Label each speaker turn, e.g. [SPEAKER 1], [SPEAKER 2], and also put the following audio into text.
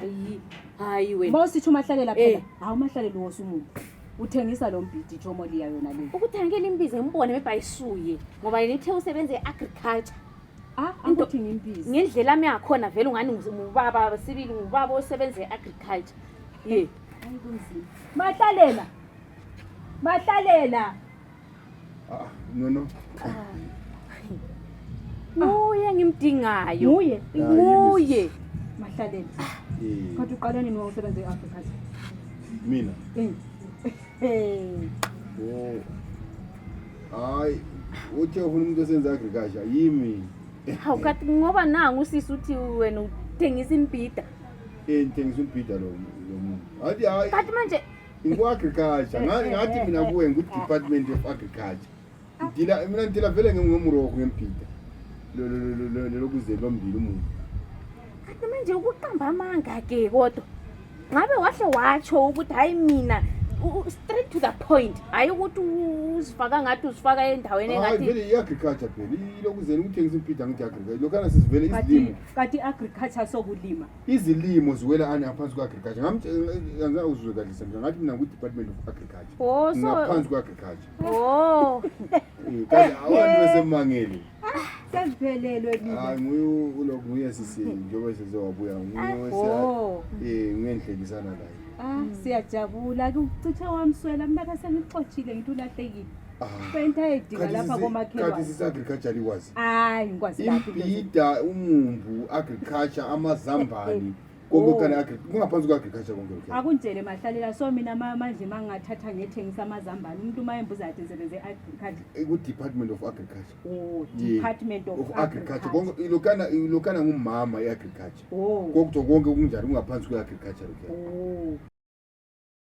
[SPEAKER 1] hayi
[SPEAKER 2] hayi wena mawusithi umahlalela Eh. phela
[SPEAKER 1] hawu umahlalela uwosa umuntu uthengisa lo mbhidi ijomo liya yona le ukuthangela imbiza ngibone
[SPEAKER 2] mebhayisuye ngoba yena ithe usebenza e-agriculture ah Into- angithi
[SPEAKER 1] ngimbizi ngendlela ami yakhona
[SPEAKER 2] vele ungani ngu- ngubaba sibili ngubaba osebenza e-agriculture ye Hayi, kunzima.
[SPEAKER 1] mahlalela mahlalela Ah,
[SPEAKER 3] no no.
[SPEAKER 2] Nguye ngimdingayo. Nguye. Nguye.
[SPEAKER 1] Mahlaleni. Eh. Kodwa uqala nini ngokusebenza e-Africa? Mina.
[SPEAKER 3] Eh. Eh. Oh. Hayi, uthe ufuna umuntu osenza agriculture yimi. Hawu kathi
[SPEAKER 2] ngoba nangu usisi uthi wena uthengisa imbida. Eh, ngithengisa
[SPEAKER 3] umbida lo lo muntu. Hayi hayi. Kathi manje
[SPEAKER 2] ngiku-agriculture
[SPEAKER 3] Nga- ngathi mina kuwe ngu-department of agriculture ngidila mina ngidila vele ngengomuroko ngembhida Lo- lo- lo- lo- lo- lokuze lombili umuntu kanti
[SPEAKER 2] manje ukuqamba amanga ke kodwa ngabe wahle watsho ukuthi hhayi mina u- u- straight to the point hhayi ukuthi u- uzifaka ngathi uzifaka endaweni hayi engathi vele i-agriculture phela
[SPEAKER 3] ilokuzeni ukuthengisa umbhida ngithi agriculture lokhana sizivele kati izilimo kati agriculture
[SPEAKER 1] sokulima izilimo ziwela
[SPEAKER 3] ani ngaphansi kwa-agriculture ngangizwe kahle semja ngathi mina kwi-department of agriculture oh, ngaphansi kwa-agriculture oh. eh, kanti awantu besemangele sesivelelwe
[SPEAKER 1] ah, nguloku
[SPEAKER 3] nguye sisi njengoba sesewabuya nguye oh. eh, ngiyenhlekisana layo ah, siyajabula
[SPEAKER 1] kuchithe wamswela mnaka sengixotshile ngithi ulahlekile Fentayidika lapha komakhelwane. Kanti sisi agriculture
[SPEAKER 3] likwazi. Hayi ngikwazi
[SPEAKER 1] laphi. Imbida umumbu
[SPEAKER 3] agriculture amazambane. Konke kana agri kungaphansi kwa agriculture konke lokho. Akunjele mahlalela so
[SPEAKER 1] mina manje mangingathatha ngethengisa amazambane umuntu mayembuza athi ngisebenze agriculture. Eh, Ku department of
[SPEAKER 3] agriculture. Oh, department of,
[SPEAKER 1] of agriculture. Konke lokana lokana
[SPEAKER 3] ngumama i agriculture. Oh. Konke konke kunjani kungaphansi kwa agriculture lokho. Oh.